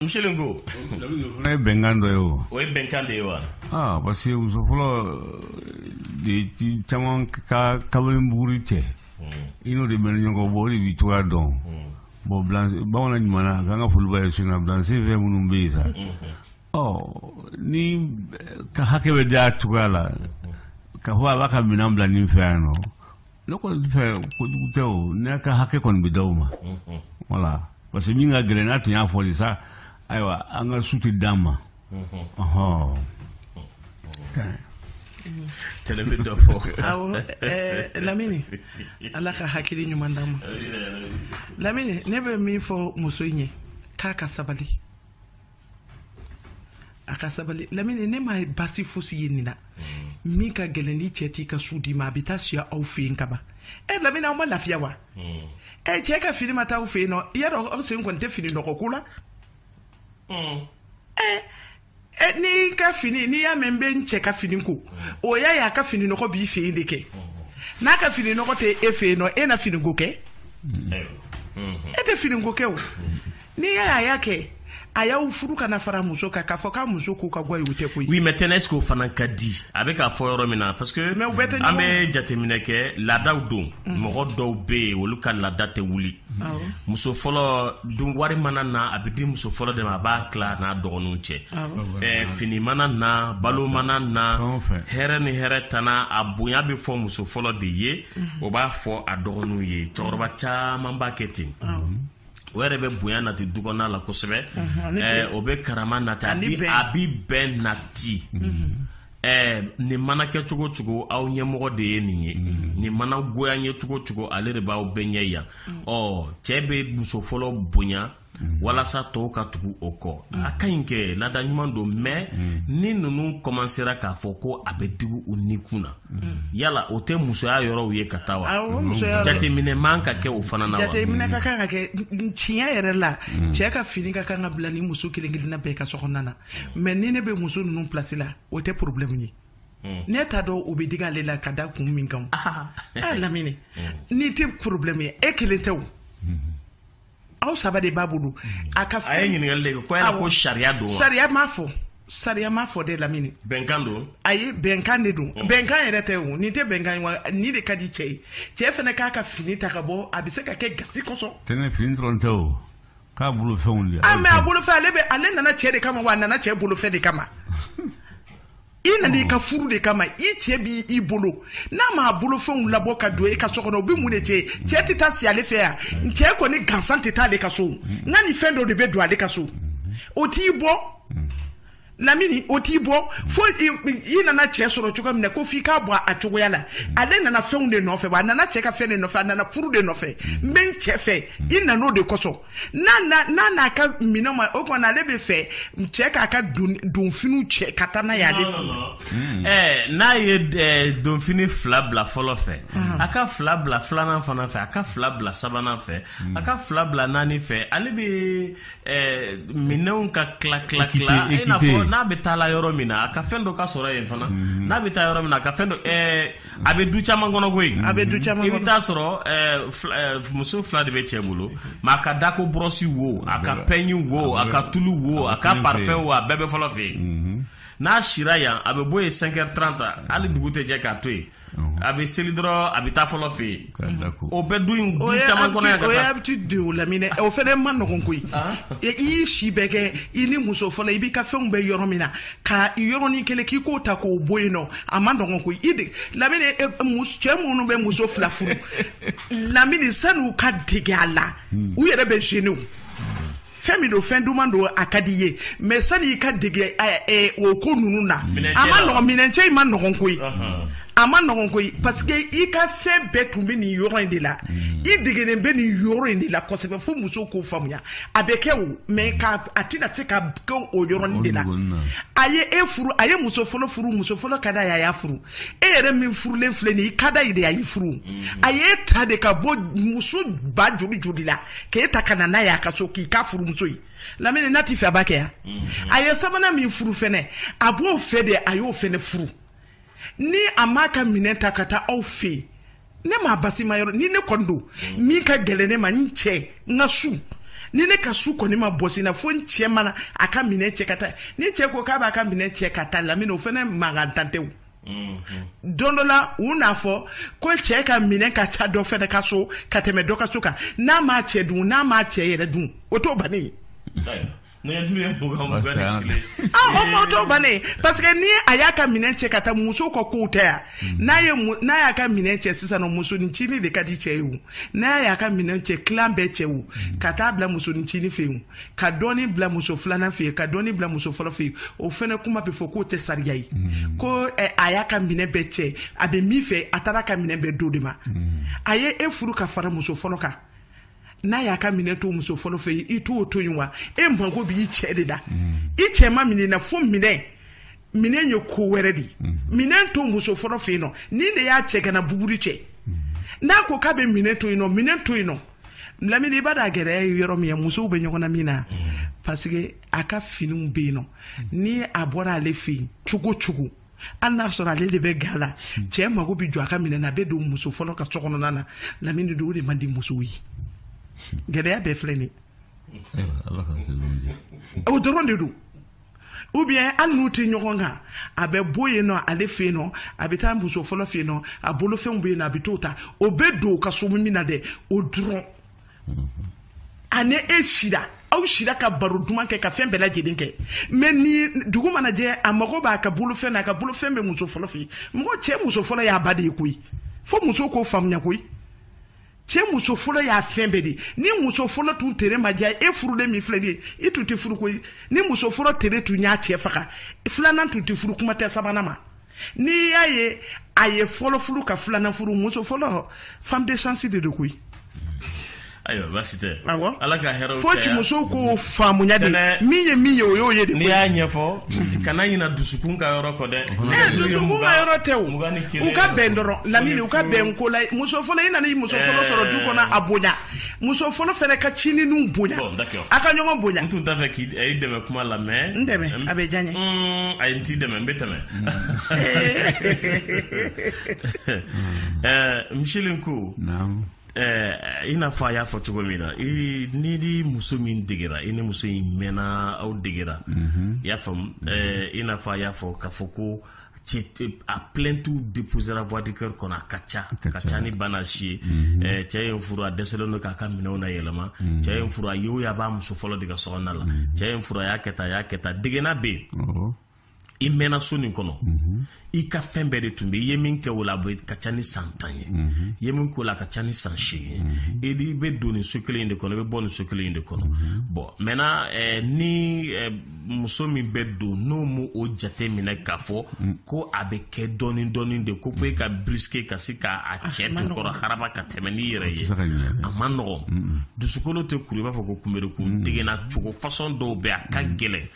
Muselen ko ne ye bɛnkan dɔ ye o o ye bɛnkan de ye wa aa parce que muso fɔlɔ de ci caman ka kabini buguri cɛ i n'o de bɛ ɲɔgɔn bɔ o de b'i cogoya dɔn bon bamanan ɲuman a k'an ka foliba ye sunna bilanse fɛn minnu bɛ yen sa ɔ n'i ka hakɛ bɛ di a cogoya la k'a fɔ a b'a ka minɛn bila nin fɛ yan nɔ ne kɔni fɛ kojugu tɛ o ne ka hakɛ kɔni bɛ d'aw ma voilà parce que min ka gɛlɛn n'a tun y'a fɔli sa ayiwa an ka su tɛ d'an ma ɔhɔn tɛnɛ bɛ dɔ fɔ awɔ lamini ala ka hakili ɲuman d'an ma lamini ne bɛ min fɔ muso in ye k'a ka sabali a ka sabali lamini ne ma basi fosi ye nin na mm. min ka gɛlɛn ni cɛ t'i ka su d'i ma a bɛ taa si aw fɛ yen kaban e lamini aw ma lafiya wa mm. e cɛ ka fini ma taa aw fɛ yen nɔ i y'a dɔn aw sen kɔni tɛ fini nɔgɔ ko la mm. n'i ka fini n'i y'a mɛn n bɛ n cɛ ka fini ko o y'a ye a ka fini nɔgɔ b'i fɛ yen de kɛ n'a ka fini nɔgɔ tɛ e fɛ yen nɔ e na fini ko kɛ e tɛ fini ko kɛ o. n'i y'a a y'a kɛ a y'aw furu ka na fara muso kan k'a fɔ k'a muso ko ka go a ye o tɛ koyi oui mais tɛnɛ est ce que o fana ka di a bɛ k'a fɔ yɔrɔ min na parce que mais u bɛɛ tɛ an bɛ jateminɛ kɛ laadaw don mhm. mɔgɔ dɔw bɛ yen olu ka laada tɛ wuli muso fɔlɔ dun wari mana na a bɛ di muso fɔlɔ de ma a b'a tila n'a dɔgɔninw cɛ ɛɛ fini mana na balo mana na hɛrɛ ni hɛrɛ tana a bonya bɛ fɔ muso fɔlɔ de ye mhm. o b'a fɔ a dɔgɔninw ye cɛkɔrɔba caman b'a kɛ ten. o yɛrɛ bɛ bonya nati du kɔnɔna la kosɛbɛ ɛɛ o bɛ karama nati a bi a bi bɛn nati ɛɛ nin mana kɛ cogo cogo aw ɲɛmɔgɔ de ye nin ye nin mana goya ye cogo cogo ale de b'aw bɛɛ ɲɛ yan ɔ cɛ bɛ muso fɔlɔ bonya walasa tɔw ka tugu o kɔ a ka ɲi kɛ laada ɲuman don mais ni ninnu kɔmansera k'a fɔ ko a bɛ digi u nikun na yala o tɛ musoya yɔrɔw ye ka taa wa jateminɛ man ka kɛ o fana na jateminɛ ka kan ka kɛ tiɲɛ yɛrɛ la mm. cɛ ka fini ka kan ka bila ni muso kelen kelenna bɛɛ ka sokɔnɔna na mais ni ne bɛ muso ninnu place la o tɛ porobilɛmu ye mm. ne t'a dɔn o bɛ digi ale la ka da kun min kan a lamini mm. n'i tɛ porobilɛmu ye e kelen tɛ o mm-hmm. aw saba de b'a bolo a ka a ye ɲininkali de kɛ ko yala ko sariya don wa sariya m'a fɔ sariya m'a fɔ dɛ lamini bɛnkan don a ye bɛnkan de don mm. bɛnkan yɛrɛ tɛ o nin tɛ bɛnkan wa nin de ka di cɛ ye cɛ fana k'a ka fini ta ka bɔ a bɛ se ka kɛ gasi kosɔn tɛnɛ fini dɔrɔn tɛ o k'a bolofɛnw de a ah, mais a bolofɛn ale bɛ ale nana cɛ de kama wa a nana cɛ bolofɛn de kama i nana i ka furu de kama i cɛ b' i bolo n'a m'a bolofɛnw labɔ ka don i ka so kɔnɔ o bɛ mun de cɛn cɛ tɛ taa si ale fɛ yan cɛ kɔni gansan tɛ taa ale ka so nka ni fɛn dɔ de bɛ don ale ka so o t'i bɔ lamini o t'i bɔ fo i nana cɛ sɔrɔ cogo min na ko f'i k'a bɔ a cogoya la ale nana fɛnw de nɔfɛ wa a nana cɛ ka fɛn de nɔfɛ a nana furu de nɔfɛ n bɛ n cɛ fɛ i nan'o de kosɔn n'a n'a ka minɛn ma o kɔnɔ ale b'a fɛ cɛ k'a ka donfiniw cɛ ka taa n'a ye ale fɛ hmm. eh, n'a ye eh, donfini fila bila fɔlɔ fɛ ah. a ka fila bila filanan fana fɛ a ka fila bila sabanan fɛ hmm. a ka fila bila naani fɛ ale bɛ eh, minɛnw ka tila tila tila i n'a fɔ n'a bɛ taa la yɔrɔ min na a ka fɛn dɔ ka sɔrɔ yen fana hmm. n'a bɛ taa yɔrɔ min na a ka fɛn dɔ a bɛ du caman kɔnɔ koyi a bɛ du caman i bɛ taa sɔrɔ eh, eh, muso fila de bɛ cɛ bolo mɛ a ka dako bɔrɔsi wo a ka pɛɲi wo a ka tulu wo a ka parifɛn wo a bɛɛ bɛ fɔlɔ fɛ yen mhm. n'a sira yan a bɛ bɔ yen cinq heures trente hali dugu tɛ jɛ k'a to yen a bɛ seli dɔrɔn a bɛ taa fɔlɔ fɛ yen O bɛ du caman kɔnɔ habitude lamini o fɛnɛ man nɔgɔn koyi i y'i si bɛɛ kɛ i ni muso fɔlɔ i b'i ka fɛnw bɛ yɔrɔ min na ka yɔrɔnin kelen k'i k'o ta k'o bɔ yen a man nɔgɔn koyi dɛ lamini cɛ minnu bɛ muso fila furu lamini sani u ka dege a la u yɛrɛ bɛ gêné fɛn min don fɛn duman don a ka d'i ye mɛ sani i ka dege o ko ninnu na a man nɔgɔn minɛncɛ in man nɔgɔn koyi a man nɔgɔn koyi parce que i ka fɛn bɛɛ tun bɛ nin yɔrɔ in de la mm. i degenen bɛ nin yɔrɔ in de la kosɛbɛ fo muso k'o faamuya a bɛ kɛ wo mɛ nka a tɛna se ka kɛ o yɔrɔnin de la a ye e furu a ye muso fɔlɔ furu muso fɔlɔ ka d'a ye a y'a furu e yɛrɛ min furulen filɛ nin i ka d'a ye de a y'i furu mhm. a y'e ta de ka bɔ muso ba joli joli la k'e ta ka na n'a ye a ka so k'i k'a furumuso ye lamini n'a t'i fɛ a b'a kɛ yan mhm. a ye sabanan min furu fɛnɛ a b'o fɛ de a y'o fɛnɛ furu ni a m'a ka minɛn ta ka taa aw fɛ yen ne m'a basi ma yɔrɔ ni ne kɔni don min ka gɛlɛn ne ma n cɛ n ka su ni ne ka su kɔni ma bɔsi n na fo n cɛ mana a ka minɛn cɛ ka taa ni cɛ ko k'a b'a ka minɛn cɛ ka taa lamini o fɛnɛ mankantan tɛ o don dɔ la u n'a fɔ ko cɛ ka minɛn ka ca dɔ fɛnɛ ka so ka tɛmɛ dɔ ka so kan n'a m'a cɛ dun n'a m'a cɛ yɛrɛ dun o t'o bannen ye Parce que ni a y'a ka minɛn cɛ ka taa muso ka kow tɛ yan mm. n'a n'a y'a ka minɛn cɛ sisan musonincinin de ka di cɛ ye n'a y'a ka minɛn cɛ k'a bɛɛ cɛ mm. ka taa bila musonincinin fɛ yen ka dɔɔnin bila muso filanan fɛ yen ka dɔɔnin bila muso fɔlɔ fɛ yen o fɛnɛ kuma bɛ fɔ k'o tɛ sariya ye mm. ko eh, a y'a ka minɛ bɛɛ cɛ a bɛ min fɛ a taar'a ka minɛ bɛɛ d'o de ma a ye e furu ka fara muso fɔlɔ kan n'a y'a ka minɛn to muso fɔlɔ fɛ i t'o to yen wa e mago b'i cɛ de la i cɛ ma minɛn na fo minɛ minɛn ye ko wɛrɛ de ye minɛn to muso fɔlɔ fɛ yen nɔ ni de y'a cɛ kana buguri cɛ n'a ko k'a bɛ minɛn to yen nɔ minɛn to yen nɔ lamini i b'a dɔn a gɛlɛya ye yɔrɔ min ye musow bɛ ɲɔgɔn na min na parce que a ka finiw bɛ yen nɔ ni a bɔra ale fɛ yen cogo cogo hali n'a sɔrɔ ale de bɛ ga la hmm. cɛ mago bɛ jɔ a ka minɛn na a bɛ don muso fɔlɔ ka so kɔnɔna na lamini don o de man di musow ye hmm. gɛlɛya bɛɛ filɛ nin o dɔrɔn de don ou bien hali n'u tɛ ɲɔgɔn kan a bɛ bɔ yen nɔ ale fɛ yen nɔ a bɛ taa muso fɔlɔ fɛ yen nɔ a bolofɛnw bɛ yen nɔ a bɛ t'o ta o bɛ don o ka so min na dɛ o dɔrɔn a ni e sira aw sira ka baro duman kɛ ka fɛn bɛɛ lajɛlen kɛ mais ni dugu mana jɛ a mago b'a ka bolofɛn na a ka bolofɛn bɛ muso fɔlɔ fɛ mɔgɔ cɛ muso fɔlɔ y'a ba de ye koyi fo muso k'o faamuya koyi cɛ muso fɔlɔ y'a fɛn bɛɛ de ni muso fɔlɔ tun tere ma diya e furulen min filɛ de i tun tɛ furu koyi ni muso fɔlɔ tere tun y'a cɛ faga filanan tun tɛ furu kuma tɛ sabanan ma n'i y'a ye a ye fɔlɔ furu ka filanan furu muso fɔlɔ femme de chance de don koyi ayiwa baasi tɛ awɔ ala ka hɛrɛw fo ci musow k'o faamuya de min ye min ye o y'o ye de n'i y'a ɲɛfɔ kana ɲina dusukun ka yɔrɔ kɔ dɛ ee dusukun ka yɔrɔ tɛ o u ka bɛn dɔrɔn lamini u ka bɛn ko la muso fɔlɔ i nana i muso fɔlɔ sɔrɔ du kɔnɔ a bonya muso fɔlɔ fana ka cininiw bonya a ka ɲɔgɔn bonya n tun t'a fɛ k'i dɛmɛ kuma la mais n dɛmɛ a bɛ diya n ye mm, a ye n t'i dɛmɛ n bɛ tɛmɛ eh, misili ko Eh, i n'a fɔ a y'a fɔ cogo min na i ni ni muso min degera i ni muso in mɛnna aw degera mhm. i y'a faamu eh, i n'a fɔ a y'a fɔ k'a fɔ ko a plainte déposera voix du cœur kɔnɔ a ka ca ka ca ni bana si ye mhm. eh, cɛ ye n furu a dɛsɛlen don k'a ka minɛnw na yɛlɛma mhm. cɛ ye n furu a ye a b'a muso fɔlɔ de ka so kɔnɔna la mhm. cɛ ye n furu a y'a kɛ tan a y'a kɛ tan degena bɛ yen i mɛnna so nin kɔnɔ i ka fɛn bɛɛ de tun bɛ i ye min kɛ o la a ka ca ni san tan ye i ye min k'o la a ka ca ni san seegin ye i bɛ don nin so kelen in de kɔnɔ i bɛ bɔ nin so kelen in de kɔnɔ bon maintenant eh, ni eh, muso min bɛ don n'o m'o jate minɛ k'a fɔ ko a bɛ kɛ dɔɔnin dɔɔnin de ko fo e ka brusquer ka se k'a ah, cɛ to kɔrɔ haraba ka tɛmɛ n'i yɛrɛ ye a man nɔgɔn dusukolo tɛ kuru i b'a fɔ ko kunberekun degenna cogo façon dɔw bɛ a ka gɛlɛn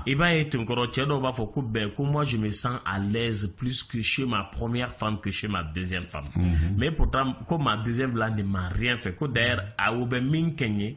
i b'a ye tenkɔrɔ cɛ dɔw b'a fɔ ko ben ko moi je me sens à l'aise plus que chez ma première femme que chez ma deuxième femme mais pourtant ko ma deuxième là ne m'a rien fait ko d'ailleurs a o bɛ min kɛ n ye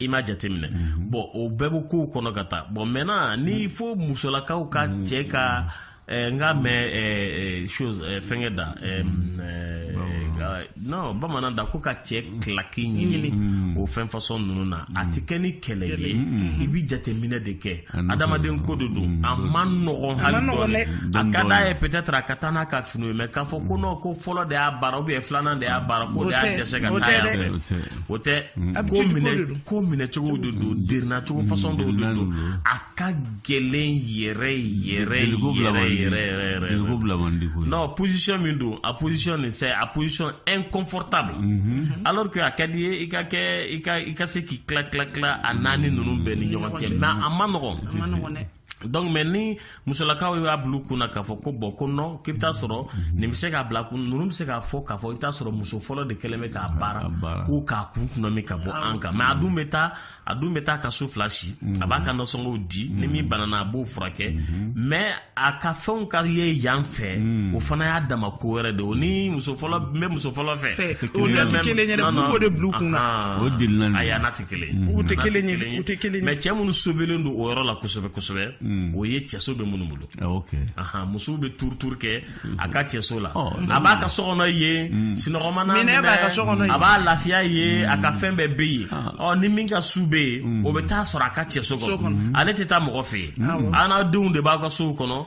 i m'a jateminɛ mm -hmm. bon o bɛɛ bɛ kow kɔnɔ ka taa bon maintenant ni mm -hmm. fo musolakaw ka mm -hmm. cɛ ka eh, n k'a mɛn eh, eh, chose eh, fɛnkɛ da eh, mm -hmm. eh, non bamanan da ko ka cɛ kilaki ɲini mm -hmm. o fɛn façon ninnu na a tɛ kɛ ni kɛlɛ ye mm -hmm. i bɛ jateminɛ de kɛ adamaden ko de don a man nɔgɔn hali dɔɔni a ka d'a ye peut-être a ka taa n'a ka finiw ye mais k'a fɔ ko non ko fɔlɔ de y'a baara ou bien filanan de y'a baara ko de y'a dɛsɛ ka taa yan fɛ o tɛ ko ko minɛcogo de don derinacogo façon dɔw de don a ka gɛlɛn yɛrɛ yɛrɛ yɛrɛ yɛrɛ yɛrɛ non position min don a position nin c'est a position inconfortable mhm. alors que a ka d'i ye i ka kɛ i ka i ka se k'i tila tila tila a naani ninnu bɛɛ ni ɲɔgɔn cɛ mais a man nɔgɔn donc mais ni musolakaw y'a bil'u kun na k'a fɔ ko bon ko non k'i bɛ taa sɔrɔ nin bɛ se k'a bila kun ninnu bɛ se k'a fɔ k'a fɔ i bɛ taa sɔrɔ muso fɔlɔ de kɛlen bɛ k'a baara k'u k'a kun kunna min ka bɔ an kan mais a dun bɛ taa a dun bɛ taa ka su fila si a b'a ka nasɔngɔw di ni min banana a b'o furakɛ mais a ka fɛnw ka ye yan fɛ o fana y'a dama ko wɛrɛ de o ni muso fɔlɔ n bɛ muso fɔlɔ fɛ o de tɛ kelen ye dɛ f'u k'o de bil'u kun na o delila ayi a mais cɛ minnu sauvélen don o yɔrɔ la kosɛbɛ kosɛbɛ mm. o ye cɛso bɛ minnu bolo ah, musow bɛ tour tour kɛ mm. a ka cɛso la oh, a b'a ka so kɔnɔ yen mm. sunɔgɔ man'a minɛ a b'a lafiya yen a ka fɛn bɛɛ bɛ yen ah. oh, ni min ka su bɛ yen o bɛ t'a sɔrɔ a ka cɛso kɔnɔ ale tɛ taa mɔgɔ fɛ yen a n'a denw de b'a ka sow kɔnɔ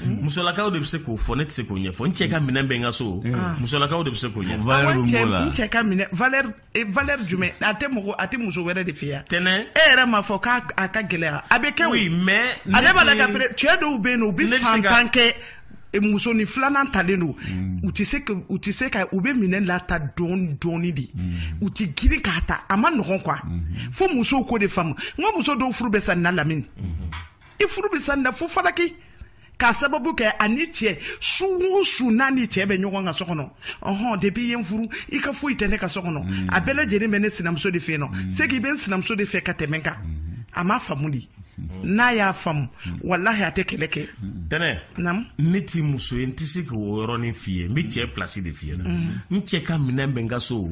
Mm. musolakaw de bɛ se k'o fɔ ne tɛ se k'o ɲɛfɔ n cɛ ka minɛn bɛ n ka so mm. ah. musolakaw de bɛ se k'o ɲɛfɔ valeur bɛ mɔgɔ la n cɛ ka minɛn valeur eh, valeur jumɛn a tɛ mɔgɔ a tɛ muso wɛrɛ de fɛ yan tɛnɛ e yɛrɛ m'a fɔ k'a a ka gɛlɛya a bɛ kɛ o oui mais ale b'a la ka pere cɛ dɔw bɛ yen nɔ u bɛ san tan kɛ eh, musonin filanan talen don mm. u tɛ se ka u tɛ se ka u bɛ minɛn lata dɔɔni dɔɔni de u tɛ girin k'a ta a man nɔgɔn quoi mm-hmm. fo musow k'o de faamu n ko muso dɔw furu bɛ sa nin na lamini. Mm-hmm. i furu bɛ sa nin na fo falaki k'a sababu kɛ ani cɛ su o su n'a ni cɛ bɛ ɲɔgɔn ka so kɔnɔ ɔhɔn depuis i ye n furu i ka foyi tɛ ne ka so kɔnɔ mm. a bɛɛ lajɛlen bɛ ne sinamuso de fɛ yen nɔ mm. c'est que i bɛ n sinamuso de fɛ ka tɛmɛ n kan mm-hmm. a m'a faamu de mm-hmm. n'a y'a faamu mm-hmm. walahi a tɛ kɛlɛ kɛ tɛnɛ naamu ne tɛ muso ye n tɛ se k'o yɔrɔnin f'i ye n bɛ cɛ place de f'i ye n cɛ ka minɛn bɛ n ka so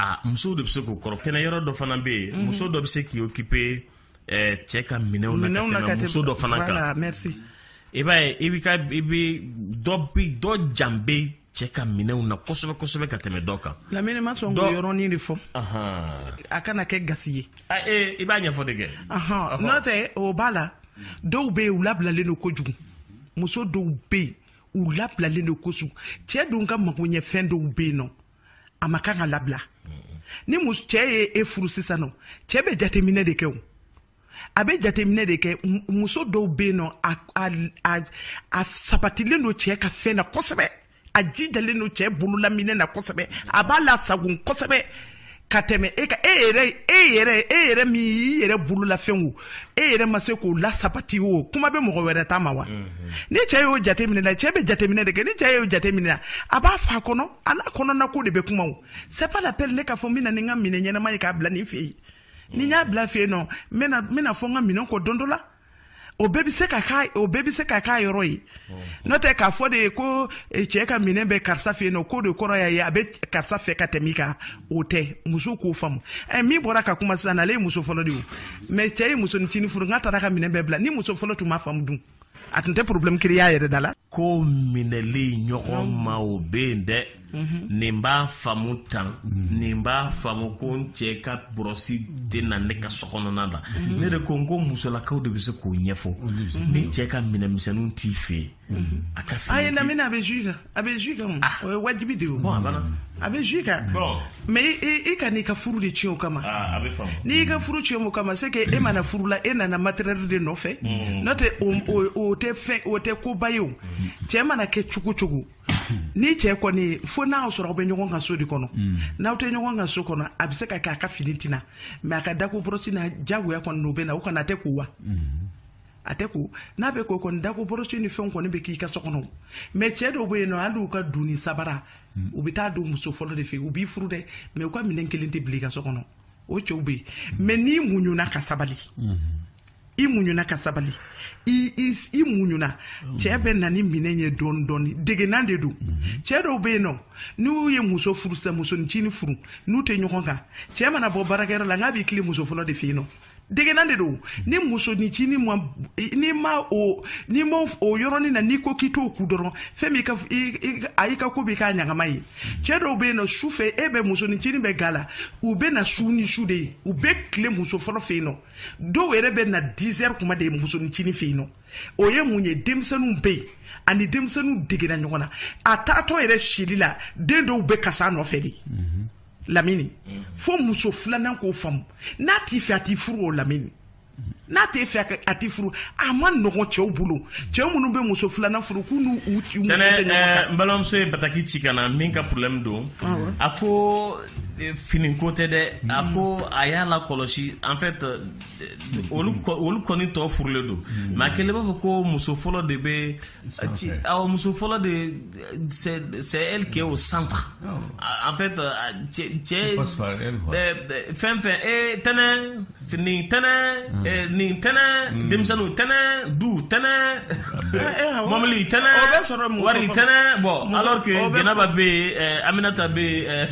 a musow de bɛ se k'o kɔrɔ tɛnɛ yɔrɔ dɔ fana bɛ yen muso dɔ bɛ se k'i occuper eh, cɛ ka minɛnw na ka tɛmɛ muso dɔ fana kan i b'a ye i bɛ ka i bɛ dɔ bi dɔ jan bɛ cɛ ka minɛnw na kosɛbɛ kosɛbɛ ka tɛmɛ dɔ kan. lamini ma sɔn k'o yɔrɔnin de fɔ. a kana kɛ gasi ye. a ee i b'a ɲɛfɔ de kɛ. n'o tɛ o b'a la dɔw bɛ yen u labilalen don kojugu muso dɔw bɛ yen u labilalen don kojugu cɛ dun ka magoɲɛfɛn dɔw bɛ yen nɔ. a ma kan ka labila ni mu cɛ ye e furu sisan nɔ cɛ bɛ jateminɛ de kɛ o a bɛ jateminɛ de kɛ muso dɔw bɛ yen nɔ a sabatilen don cɛ ka fɛn na kosɛbɛ a jijalen don cɛ bololaminɛn na kosɛbɛ a b'a lasagon kosɛbɛ ka tɛmɛ e ka e yɛrɛ e yɛrɛ e yɛrɛ min y'i yɛrɛ bololafɛnw e yɛrɛ ma se k'o lasabati o kuma bɛ mɔgɔ wɛrɛ ta ma wa mhm. ni cɛ y'o jateminɛ la cɛ bɛ jateminɛ de kɛ ni cɛ y'o jateminɛ la a b'a f'a kɔnɔ a n'a kɔnɔnako de bɛ kuma o c'est pas la peine ne k'a fɔ n bɛ na ni n ka minɛn ɲɛnama ye k'a bila nin fɛ yen ni n y'a bila fɛ yen nɔ n bɛna n bɛna fɔ n ka minɛn kɔ don dɔ la o bɛɛ bɛ se ka k'a o bɛɛ bɛ se ka k'a yɔrɔ ye n'o tɛ k'a fɔ de ye ko eh, cɛ ka minɛn bɛ karisa fɛ yen nɔ k'o de kɔrɔ y'a ye a bɛ karisa fɛ ka tɛmɛ i kan o tɛ muso k'o faamu ɛ eh, min bɔra ka kuma sisan ale ye muso fɔlɔ de ye mais cɛ ye musonincinin furu n'a taara ka minɛn bɛɛ bila ni muso fɔlɔ tun m'a faamu dun a tun tɛ problème créer a yɛrɛ da la ko minɛli ɲɔgɔn ma o bɛ yen dɛ Mhm. nin b'a faamu tan mhm. nin b'a faamu ko n cɛ ka bɔrɔsi tɛ na ne ka so kɔnɔna la mhm. ne de ko n ko musolakaw de bɛ se k'o ɲɛfɔ ni cɛ ka minɛnmisɛnninw t'i fɛ yen a ka fini ayi lamini a bɛ jus kan a bɛ jus kan ah. o ye wajibi de ye bon a banna a bɛ jus kan mais i kan'i ka furu de tiɲɛ o kama ah, n'i y'i ka furu tiɲɛ o kama c'est que e ma na furu la e nana matériel de nɔfɛ n'o tɛ o tɛ fɛn o tɛ koba ye o cɛ mana kɛ cogo cogo ni cɛ kɔni fo n'a y'a sɔrɔ aw bɛ ɲɔgɔn kan so de kɔnɔ mm. n'aw tɛ ɲɔgɔn kan so kɔnɔ a bɛ se ka kɛ a ka fini tɛ na mais a ka dako bɔrɔsi na jagoya kɔni n'o bɛ na o kana a tɛ ko wa mm-hmm. a tɛ ko n'a bɛ ko kɔni dako bɔrɔsi ni fɛnw kɔni bɛ k'i ka so kɔnɔ mais cɛ dɔw bɛ yen nɔ hali u ka donni sabara mm. u bɛ taa don muso fɔlɔ de fɛ yen u b'i furu dɛ mais u ka minɛn kelen tɛ bila i ka so kɔnɔ o cɛw bɛ yen mm. mais n'i muɲuna ka sabali mm-hmm. i muɲuna ka sabali i muɲuna cɛ bɛ na ni minɛn ye dɔɔni dɔɔni degenan de don mhm. cɛ dɔw bɛ yen nɔ n'u ye muso furu sisan musonicinin furu n'u tɛ ɲɔgɔn kan cɛ mana bɔ baarakɛyɔrɔ la n k'a b'i tile muso fɔlɔ de fɛ yen nɔ degenan de don ni musonicinin ma n'i ma o n'i ma o yɔrɔnin na n'i ko k'i t'o kun dɔrɔn fɛn min a y'i ka ko b'i k'a ɲagama ye cɛ dɔw bɛ yen nɔ su fɛ e bɛ musonicinin bɛ ga la u bɛ na su ni su de ye u bɛ tile muso fɔlɔ fɛ yen nɔ dɔw yɛrɛ bɛ na 10 heures kuma de musonicinin fɛ yen nɔ o ye mun ye denmisɛnninw bɛ yen ani denmisɛnninw degena ɲɔgɔn na a taatɔ yɛrɛ sili la den dɔw bɛ kasi a nɔfɛ de lamini fo muso filanan k'o faamu n'a t'i fɛ a t'i furu o lamini n'a t'e fɛ a t'i furu a man nɔgɔn cɛw bolo cɛ minnu bɛ muso filanan furu k'u n'u u muso tɛ ɲɔgɔn kan n balimamuso ye bataki ci ka na min ka problème don a ko fini ko tɛ dɛ a hmm. ko a y'a lakɔlɔsi en fait euh, olu olu kɔni tɔ furulen don hmm. mais a kɛlen b'a fɔ ko muso fɔlɔ de bɛ awɔ muso fɔlɔ de c'est c'est elle qui est au centre oh. en fait euh, cɛ cɛ fɛn fɛn ee tɛnɛ nin tɛnɛn eh, nin tɛnɛn denmisɛnninw tɛnɛn du tɛnɛn mɔbili tɛnɛn wari tɛnɛn bon alors que jɛnɛba bɛ yen eh, aminata bɛ yen eh,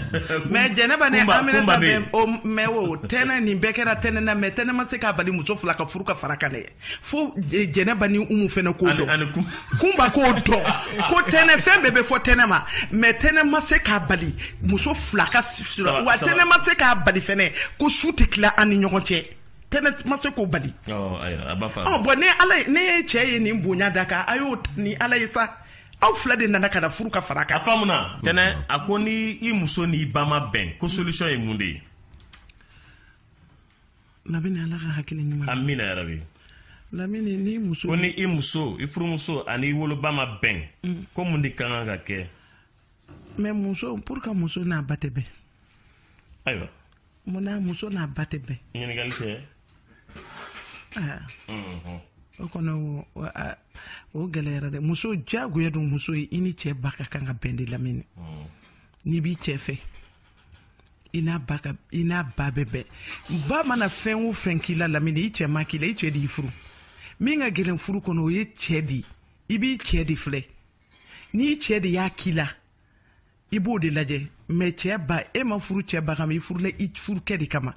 mais jɛnɛba ni aminata bɛ yen mais o tɛnɛn nin bɛɛ kɛra tɛnɛn na mais tɛnɛn ma se k'a bali muso fila ka furu ka far'a kan dɛ fo eh, jɛnɛba ni umu fɛnɛ k'o dɔn kunba k'o dɔn ko tɛnɛ fɛn bɛɛ bɛ fɔ tɛnɛ ma mais tɛnɛ ma se k'a bali muso fila ka sira wa tɛnɛ ma se k'a bali fɛnɛ ko su tɛ tila an ni ɲɔgɔn cɛ tɛnɛ ma se k'o bali bon ne ala ne ye cɛ ye nin bonya d'a kan a y'o ni ala ye sa aw fila de nana ka na furu ka far'a kan a faamuna tɛnɛ a ko ni i muso n'i ba ma bɛn ko solution ye mun de ye lamini ala ka hakili ɲuman amina yarabi lamini ni muso ko ni i muso i furumuso ani i woloba ma bɛn mm. ko mun de ka kan ka kɛ mais muso pour que muso n'a ba tɛ bɛn ayiwa mun na muso n'a ba tɛ bɛn ɲininkali kɛ ah. mm-hmm. o kɔnɔ o gɛlɛyara dɛ muso diyagoya don muso ye i ni cɛ ba ka kan ka bɛn de lamini mm. n'i b'i cɛ fɛ i n'a ba ka i n'a ba bɛ bɛn ba mana fɛn o fɛn k'i la lamini i cɛ m'a k'i la i cɛ de y'i furu min ka gɛlɛn furu kɔnɔ o ye cɛ de ye i b'i cɛ de filɛ n'i cɛ de y'a k'i la i b'o de lajɛ mais cɛ ba e ma furu cɛ ba kama i furula i furukɛ de kama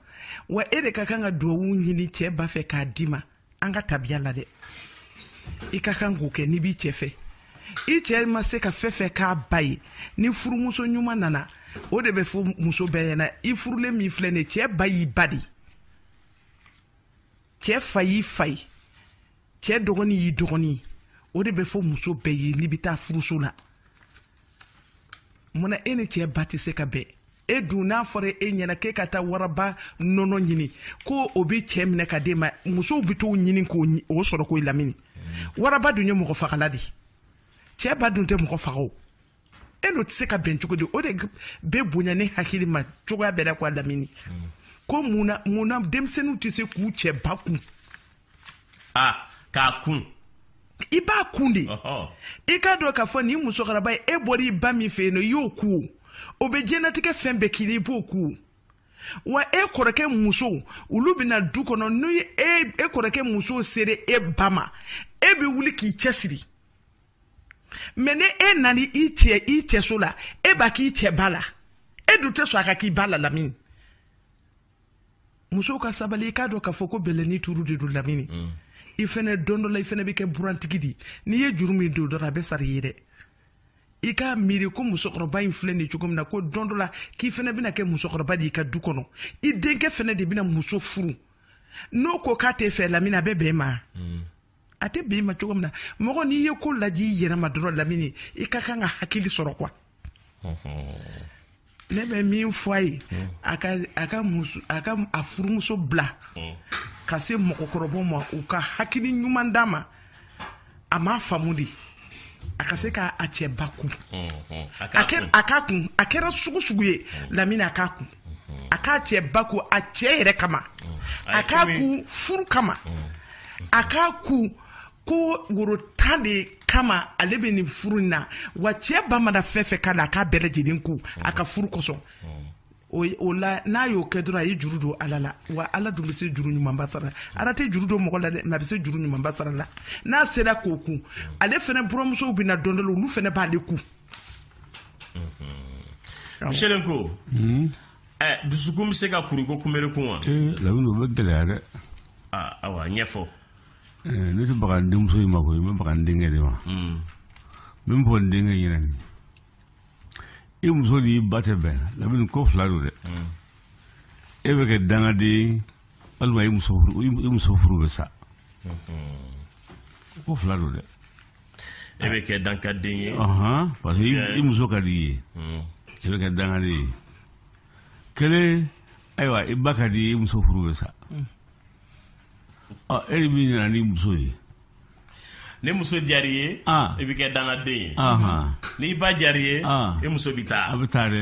wa e de ka kan ka duwawu ɲini cɛ ba fɛ k'a d'i ma an ka tabiya la dɛ i ka kan k'o kɛ n'i b'i cɛ fɛ i cɛ ma se ka fɛn fɛn k'a ba ye ni furumuso ɲuman nana o de bɛ fɔ muso bɛɛ ɲɛna i furulen min filɛ nin cɛ ba y'i ba de cɛ fa y'i fa ye cɛ dɔgɔnin y'i dɔgɔnin o de bɛ fɔ muso bɛɛ ye n'i bɛ taa furuso la munna e ni cɛ ba tɛ se ka bɛn e dun n'a fɔra e ɲɛna k'e ka taa waraba nɔnɔ ɲini ko o bɛ cɛ minɛ k'a d'e ma musow bɛ t'o ɲini k'o sɔrɔ ko lamini waraba dun ye mɔgɔ fagala de cɛ ba dun tɛ mɔgɔ faga o e n'o tɛ se ka bɛn cogo di o de bɛ bonya ne hakili ma cogoya bɛɛ la ko lamini ko mun na mun na denmisɛnninw tɛ se k'u cɛ ba kun ah, k'a kun i b'a kun de i k'a dɔn k'a fɔ nin musokɔrɔba ye e bɔra i ba min fɛ yen nɔ i y'o kun o bɛ diɲɛlatigɛ fɛn bɛɛ k'i la i b'o kun wa e kɔrɔkɛ muso olu bɛna du kɔnɔ ni e kɔrɔkɛ muso sera e ba ma e bɛ wuli k'i cɛsiri mɛ ni e nana i cɛ i cɛso la e b'a k'i cɛ ba la e dun tɛ sɔn a ka k'i ba la lamini musow ka sabali i k'a dɔn k'a fɔ ko bɛlɛni turu de don lamini mm. i fɛnɛ don dɔ la i fɛnɛ bɛ kɛ burantigi di n'i ye juru min don dɔrɔn a bɛ sara i ye dɛ i k'a miiri ko musokɔrɔba in filɛ nin cogo min na ko don dɔ la k'i fɛnɛ bɛna kɛ musokɔrɔba di i ka du kɔnɔ i denkɛ fɛnɛ de bɛna muso furu n'o ko k'a t'e fɛ lamini a bɛ bɛn i ma mm. a tɛ bɛn i ma cogo min na mɔgɔ n'i ye ko lajɛ i yɛrɛ ma dɔrɔn lamini i ka kan ka hakili sɔrɔ quoi ne bɛ min fɔ a ye a ka a ka muso a ka a furumuso bila ka se mɔgɔkɔrɔbaw ma u ka hakili ɲuman d'a ma a m'a faamu de a ka se k'a cɛ ba kun a k'a kun a kɛra sugu sugu ye lamini a k'a kun a k'a cɛ ba kun a cɛ yɛrɛ kama a k'a kun furu kama a k'a kun ko woro tan de kama ale bɛ nin furu in na wa cɛ ba mana fɛn fɛn k'a la a k'a bɛɛ lajɛlen kun a ka furu kosɔn o la n'a y'o kɛ dɔrɔn a ye juru don ala la wa ala dun bɛ se juru ɲumanba sara ala tɛ juru don mɔgɔ la dɛ mɛ a bɛ se juru ɲumanba sara la n'a sera k'o kun ale fɛnɛ buranmusow bɛ na don dɔ olu fɛnɛ b'ale kun selen ko dusukun bɛ se ka kuruko kunbri kun wa lamini bɛ gɛlɛya dɛ ayiwa n y'a fɔ ne tɛ baga n denmuso in ma ko n bɛ baga n denkɛ de ma min fɔ n denkɛ ɲɛna ni i muso n'i ba tɛ bɛn lamini ko fila don dɛ e bɛ kɛ dangaden walima i muso furu bɛ sa ko fila don dɛ e bɛ kɛ dankaden ye parce que i muso ka di i ye hmm. e bɛ kɛ dankaden ye kelen ayiwa i ba ka di i ye muso furu bɛ sa hmm. ɔ e de b'i nana ni muso ye ni muso diyara i ye i bɛ kɛ dankaden ye n'i ba diyara i ye i muso bɛ taa a bɛ taa dɛ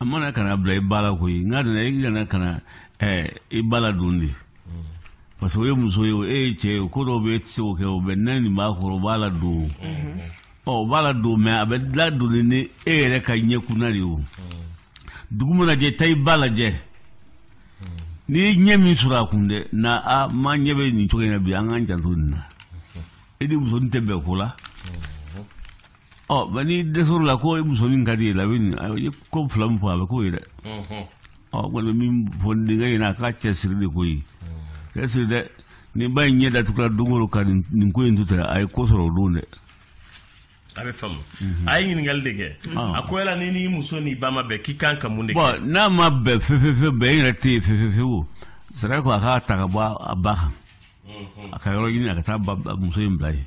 a mana kana bila i ba la ko ye n'a donna i kana kana eh, i ba ladon de parce que o ye muso ye o e ye cɛ ye ko dɔw bɛ e tɛ se k'o kɛ o bɛ na nin ba kɔrɔ o b'a ladon ɔ o b'a ladon mɛ a bɛ ladon ni ni e yɛrɛ ka ɲɛkunna de ye o dugu mana jɛ taa i ba lajɛ n'i ye ɲɛ min sɔrɔ a kun dɛ n'a ma ɲɛ bɛ nin cogo in na bi an k'an janto nin na e ni musonin tɛ bɛn ko la ɔ mɛ ni dɛsɛra o la ko e muso min ka di ye la ye ko fila min fɔ a bɛ k'o ye dɛ ɔ kɔni min fɔ denkɛ ɲɛna a k'a cɛ siri de ko i y'i cɛ siri dɛ ni ba in ɲɛ datugula don o don ka nin ko in to ten a ye ko sɔrɔ o don dɛ a bɛ faamu a ye ɲininkali de kɛ a ko yala ni n'i muso n'i ba ma bɛn k'i kan ka mun de kɛ bɔn n'a ma bɛn fefefe bɛn e yɛrɛ tɛ yen fefefe o sariya ko a k'a ta ka bɔ a ba kan a ka yɔrɔ ɲini a ka taa muso in bila yen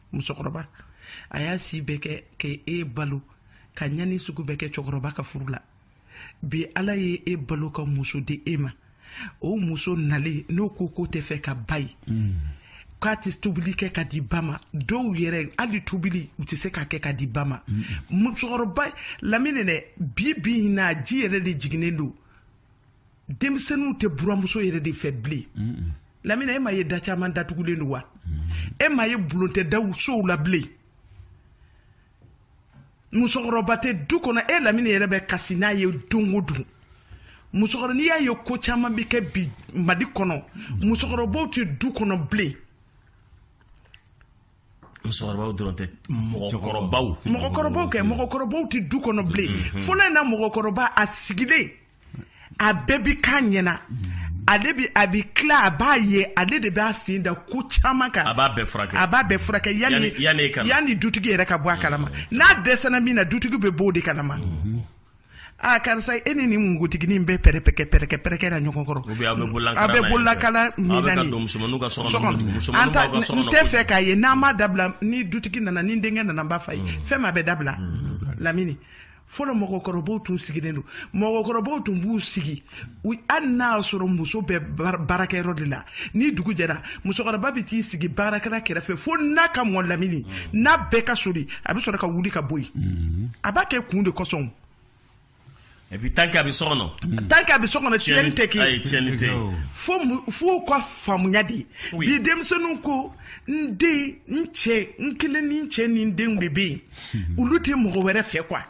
musokɔrɔba a y'a si bɛɛ kɛ ka e balo ka ɲani sugu bɛɛ kɛ cɛkɔrɔba ka furu la bi ala ye e balo ka muso di e ma o muso nalen n'o ko k'o tɛ fɛ ka ba ye mm. k'a tɛ tobili kɛ ka di ba ma dɔw yɛrɛ hali tobili u tɛ se k'a kɛ ka di ba ma mm. musokɔrɔba lamini dɛ bi bi in na ji yɛrɛ de jiginnen don denmisɛnninw tɛ buramuso yɛrɛ de fɛ bilen lamini e ma ye da caman datugulen don wa e ma ye bulon tɛ daw sow la bilen musokɔrɔba tɛ du kɔnɔ e lamini yɛrɛ bɛ kasi n'a ye don o don musokɔrɔ n'i y'a ye ko caman bɛ kɛ bi mali kɔnɔ musokɔrɔbaw tɛ du kɔnɔ bilen musokɔrɔbaw dɔrɔn tɛ mɔgɔkɔrɔbaw mɔgɔkɔrɔbaw kɛ mɔgɔkɔrɔbaw tɛ du kɔnɔ bilen mm-hmm. fɔlɔ in na mɔgɔkɔrɔba a sigilen a bɛɛ bi k'a ɲɛna mm-hmm. ale bi a bi tila a b'a ye ale de b'a sen da ko caman kan a b'a bɛɛ furakɛ a b'a bɛɛ furakɛ yanni yanni dutigi yɛrɛ ka bɔ a kalama mm-hmm. n'a dɛsɛra min na dutigi bɛ bɔ o de kalama aa karisa e ni nin npogotigi nin bɛ pɛrɛkɛ-pɛrɛkɛ na ɲɔgɔn kɔrɔ aw bɛ bolo la kala min na nin n tɛ fɛ k'a ye n'a ma dabila ni dutigi nana ni denkɛ nana n b'a f'a ye fɛn ma bɛ dabila lamini fɔlɔ mɔgɔkɔrɔba tun sigilen don mɔgɔkɔrɔba tun b'u sigi hali n'a y'a sɔrɔ muso bɛ baarakɛyɔrɔ de la ni dugu jɛra musokɔrɔba bɛ t'i sigi baarakɛla kɛrɛfɛ fo na ka mɔ lamini mm. na bɛɛ ka sori a bɛ sɔrɔ ka wuli ka bɔ yen mm-hmm. a b'a kɛ kun de kosɔn et puis tant k'a bɛ so kɔnɔ mm. tant k'a bɛ so kɔnɔ tiɲɛni tɛ kɛ ayi tiɲɛni tɛ fo fo ka faamuya de bi denmisɛnninw ko n den n cɛ n kelen ni n cɛ ni n denw de bɛ yen olu tɛ mɔgɔ wɛrɛ fɛ quoi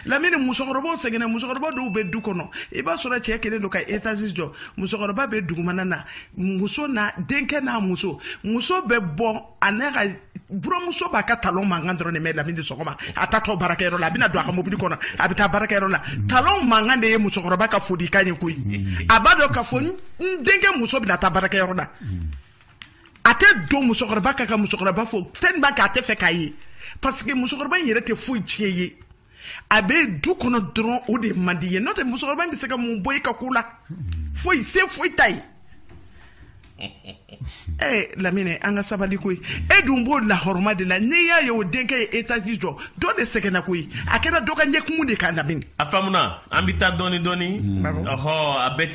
lamini musokɔrɔbaw sɛgɛnna musokɔrɔba dɔw bɛ du kɔnɔ i b'a sɔrɔ cɛ kɛlen don ka etazi jɔ musokɔrɔba bɛ dugumana na muso n'a denkɛ n'a muso muso bɛ bɔ a n'a ka buramuso b'a ka talon mankan dɔrɔn de mɛn lamini sɔgɔma a taatɔ baarakɛyɔrɔ la a bɛna don a ka mobili kɔnɔ a bɛ taa baarakɛyɔrɔ la talon mankan de ye musokɔrɔba ka folikan ye koyi a b'a dɔn k'a fɔ n denkɛ muso bɛna taa baarakɛyɔrɔ la a tɛ don musokɔrɔba kan ka musokɔrɔba fo fɛn b'a kɛ a t'a fɛ k'a ye parce que musokɔrɔba in yɛrɛ tɛ foyi tiɲɛ i ye a bɛ du kɔnɔ dɔrɔn o de man di i ye n'o tɛ musokɔrɔba in bɛ se ka mun bɔ i ka ko la foyi se foyi t'a ye ɛ lamini an ka sabali koyi e dun b'o lahɔrɔma de la n'i y'a ye o denkɛ ye etazi jɔ dɔ de sɛgɛnna koyi a kɛra dɔ ka ɲɛkumu de kan lamini a faamuna an bɛ taa dɔɔni dɔɔni ɔhɔ a bɛɛ